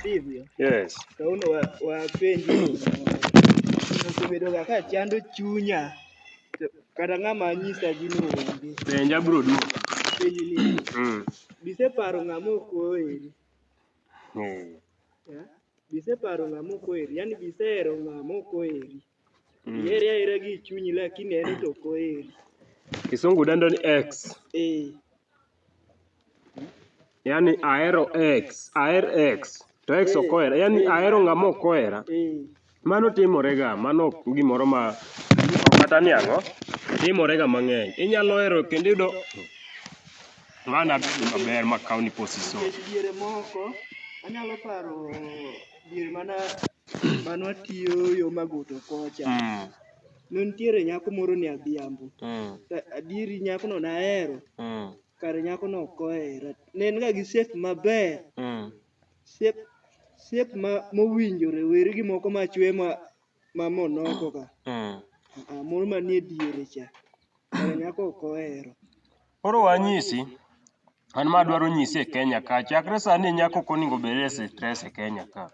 Sivyo? Yes. Saulo wa- wapenji osebedoga ka chando chunya to kata ng'ama nyisa gino onge Penja bro duo. penji ni Mm. biseparo ng'ama ok oheri Mm. ya? biseparo ng'ama ok oheri yani bisehero ng'ama ok oheri Ihere ahera gi chunyi lakini en to ok oheri. Kisungu dendo ni ex. Eh. Yaani ahero ex, aher ex. To ex ok ohera. Yaani ahero ng'ama ok ohera. Eh. Mano timorega, mano ok gimoro ma ok kata ni ang'o, timorega mang'eny. Inyalo hero kendo iyudo ng'ano abedo maber ma kawni posiso. Nikech diere moko, anyalo paro diere mana mane watiyo yo Magoto kocha, Mm. ne nitiere nyako moro ni Adhiambo. Mm. To adieri nyakono ne ahero, Mm. kare nyakono ok ohera. Ne en ga gi shape maber, Mm. shape shape ma mowinjore wer gi moko machwe ma ma monoko ka. Mm. Ah, moro manie diere cha. Kare nyako ok ohero. Koro wanyisi, an ma adwaro nyisi e Kenya ka, chakre sani nyako ok onego obed e stress e Kenya ka.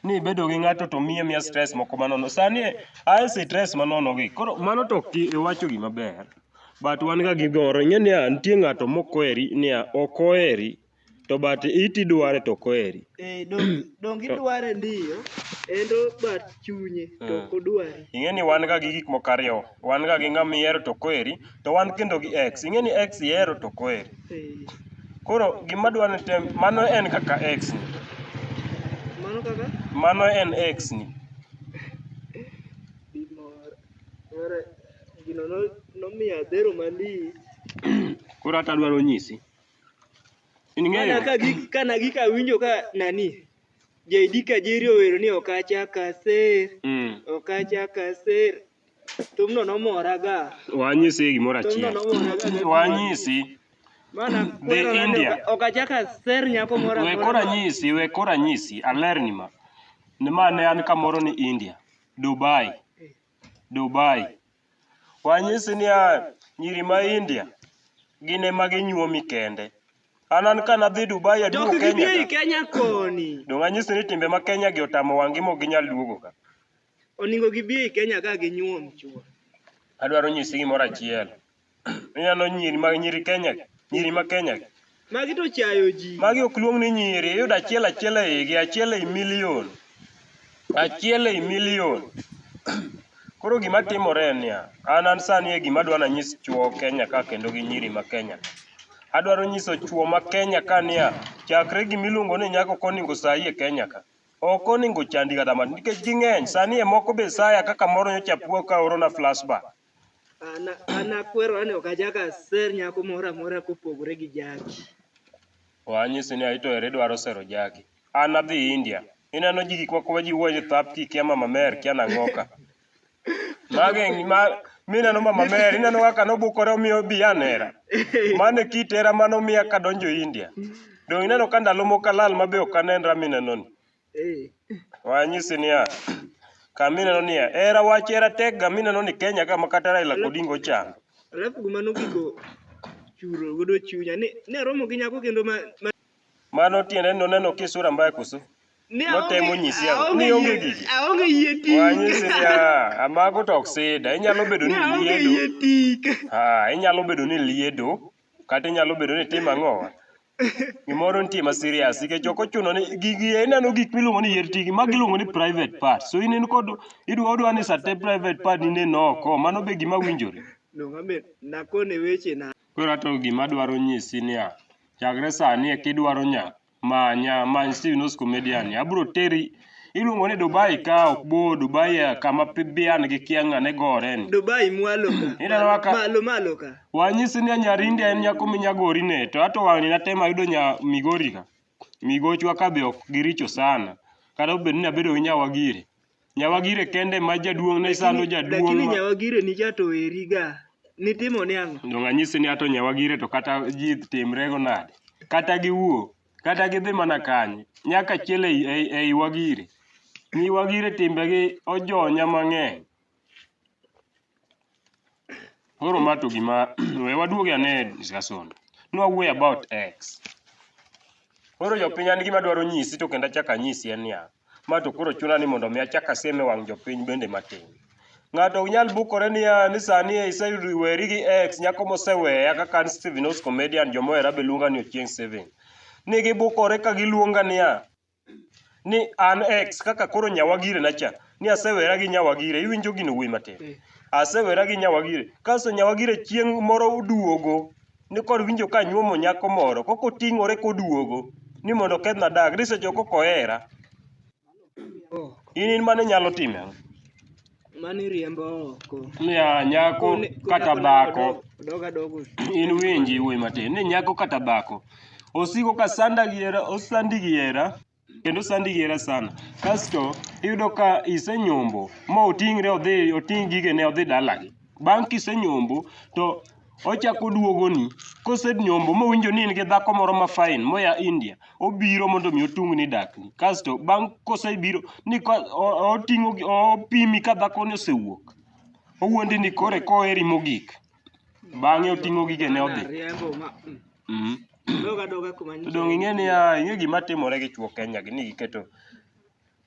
Ni ibedo gi ng'ato to miye miya stress moko manono. Sani a e stress manono gi. Koro mano to ok iwacho gima ber. But wan ga gi goro. Ing'e niya, nitie ng'ato mok oheri niya, ok oheri to but it idware to ok oheri. Eh, dong- donge idware ndiyo endo but chunye to ok odwari Ing'e ni wan ga gi gik moko ariyo. Wan ga gi ng'ama ihero to ok oheri, to wan kendo gi ex. Ing'e ni ex ihero to ok oheri. Koro gima dwa ni tem, mano en kaka x ni. Mano kaka? Mano en x ni. Gimoro. Mara gino no nomiyo adhero malich. Koro hata adwaro nyisi. In Kana ng'eyo? ka gi kana gi ka winjo ka nani? JD Kajiri owero ni ok achak aser, Mm. ok achak aser. Thumno nomora ga. Wanyisi gimoro Thumno achiel. nomora ga. gi- Wanyisi Mana The kwero nade India. oka- ok achak aser nyako moro we amora. kora nyisi we kora nyisi alerni ma ni ma ne an kamoro ni India Dubai Dubai wanyisi ni a nyiri ma India gin ema ginyuomi kende an an ka nadhi Dubai aduogo Dok gibie Kenya i ka. Kenya koni. dong anyisi ni timbe ma Kenya gi otamo wangi mok ginyal duogo ka Oningo gibi ei Kenya ka ginyuom chuo. Adwaro nyisi gimoro achiel. Ineno nyiri mag nyiri Kenya, nyiri ma Kenya. Magi to chayo ji. Magi ok luong ni nyiri, iyudo achiel achiel e igi, achiel ei milion. Achiel ei milion. Koro gima timore en niya, an an sani e gima adwa nanyis chuo Kenya ka kendo gi nyiri ma Kenya. Adwaro nyiso chuo ma Kenya ka niya, chakre gimiluongo ni nyako koningo sayi e Kenya ka. Ok oningo ochandi kata matin nikech ging'eny. Sani e moko be saya kaka moro nyocha puo ka orona flashback. An an akwero ani ok achak aser nyako moro amora kopogore gi jaki. Wanyisi ni aito ere dwaro sero jaki. An adhi India. Ineno ji gik moko ma ji wuoyo ni thap kikia mama mer kia nang'oka. Mage ma mineno mama Mary, ineno kaka nobukore omiyo bi anera. Mano e kit hera mane omiya kadonjo India. Donge ineno ka ndalo moko alal ma be ok anenra minenoni? Eh. Wanyisi niya, ka mineno niya, hera wach hera tekga mineno ni Kenya ka ma kata Raila kod Ingo ochando. Alafu gima nogiko churo godo chunya ni ne aromo gi nyako kendo ma, ma Mano tiende ni noneno ka isura mbaya koso? Ni aonge- Notemo nyisi ang'o? aonge Ni onge yie- gigi? aonge yie tik. Wanyisi ni ah, amago to ok sida. Inyalo bedo Ni ni aonge liedo. yie tik. Ah, inyalo bedo ni liedo kata inyalo bedo ni tim ang'o. Gimoro nitie ma serious nikech ok ochuno ni gigi ineno gik miluongo ni yier tigi mag iluongo ni private part. So in in kod idwa odwa ni sate private part ni neno oko. Mano be gima winjore. Donge amet nakone weche na. Koro ato gima adwaro nyisi niya, chakre sani e kidwaro nya manya many Steve Nos Comedian. Abro teri iluongo ni Dubai ka ok bor, Dubai eh, kama pi- bian gi kianga ne gore ni. Dubai mwalo ka. Ineno kaka- Malo malo ka. Wanyisi ni Nyarindi en nyako minyagori ne, to ato wang'ni natemo ayudo nya Migori ka. Migochwa ka be ok giricho sana. Kata obedo ni abedo gi Nyawagiri. Nyawagire kende ma jaduong' ne sando jaduong'. Lakini ma- nyawagire ni jato eri ga. Nitimo ni ang'o? Donge anyisi ni ato nyawagire to kata ji timrego nade? Kata giwuo, kata gidhi mana kanye, nyaka chiel ei, ei, ei wagire. Nyi wagire timbegi ojonya mang'eny. Koro ma to gima we waduog ane e discussion. Ne wawuoyo about X. Koro jopiny an gima adwaro nyisi to kendo achako anyisi en niya, ma to koro chuna ni mondo mi achak asiem e wang' jopiny bende matin. Ng'ato ok nyal bukore niya ni sani iseyudo iweri gi X nyako moseweya kaka an Steven Os comedian joma ohera be luonga ni Ochieng Steven. Ni gibukore ka giluonga niya, ni an ex kaka koro nyawagire nacha ni asewera gi nyawagire iwinjo gino wuoyi matin Eh. asewera gi nyawagire kasto nyawagire chieng' moro oduogo ni kod winjo ka nyuomo nyako moro koko oting'ore koduogo ni mondo okethna dak ni seche koko ohera in in mane nyalo time Mano iriembo oko. niya nyako Kone- kone kata kone dhako odo- Odog adogo. in winji wuoyi matin ni nyako kata dhako osiko ka sanda gi hera osandi gi hera kendo sandi gi hera sana kasto iyudo ka isenyombo ma oting're odhi oting' gigene odhi dalagi bang' kisenyombo to Ochako oduogoni kosenyombo mowinjo ni in gi dhako moro ma fine moya India, obiro mondo mi otungni dakni. Kasto bang' kosebiro ni ka o- oting'o gi- opimi ka dhakoni osewuok. Owuondi ni kore koheri mogik. Bang'e oting'o gigene odhi. Riembo ma. mm. Mhm. Doga doga kuma To donge ing'e niya, ing'e gima timore gi chuo Kenya gi ni giketo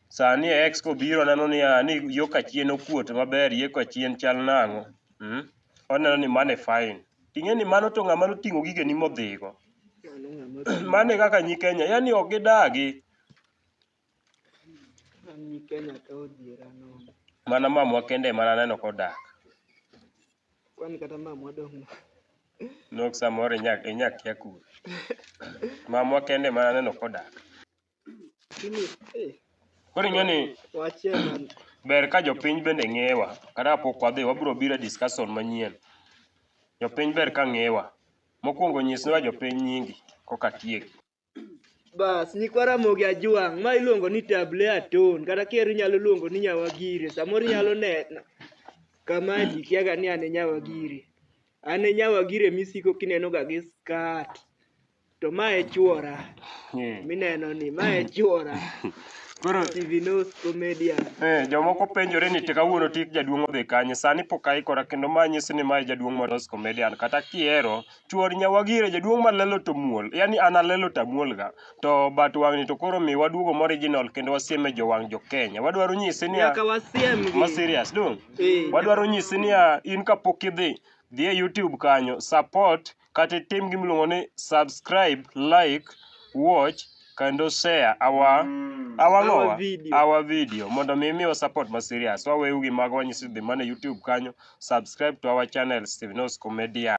Sani e ex kobiro neno ni a ni yo kachien okuot maber yie kachien chal nang'o. Mm. Oneno ni mane fine. Ting'e ni mano to ng'ama noting'o gige ni modhigo. Mano ng'ama ti. Mane kaka nyi Kenya, yani ok gidagi. An ni Kenya ka odhiera nono. Mana mamwa kende mana neno kodak. Kwani kata mamwa dong' Nok samoro inya inya kia kuro. Mamwa kende mana neno kodak. Koro ing'e ni ber ka jopiny bende ng'ewa kata kapok wadhi wabiro biro e discussion manyien. Jopiny ber ka ng'ewa. Mokwongo nyiswa jopiny nyingi koka atieki. Bas, nyikwa Ramogi Ajwang', ma iluongo ni Table Aton, kata kier inyalo luongo ni Nyawagire, samoro inyalo nena kama ji kiaga ni an e Nyawagire. An e Nyawagire misiko kinenoga gi skat. To ma e chuora Eh. mineno ni ma e chuora Koro TV News Comedia. Eh, jomoko penjore ni to kawuono tik jaduong' odhi kanye sani pok aikora kendo ma nyisi ni mae jaduong' molos comedian kata kihero chuor nyawagire jaduong' malelo to muol yani an alelo to amuolga to but wang'ni to koro mi waduogo moriginal kendo wasieme jowang' jo Kenya wadwaro nyisi ni Nyaka wasiem gi. ma serious dong Eh, wadwaro nyisi niya in kapok idhi dhi e youtube kanyo support kata itim gima iluongo ni subscribe, like, watch kendo share our mm. our, our no, video. our video mondo mi miwa support ma serious waweu gi mago wanyisi dhi mana YouTube kanyo subscribe to our channel Steven Osco Media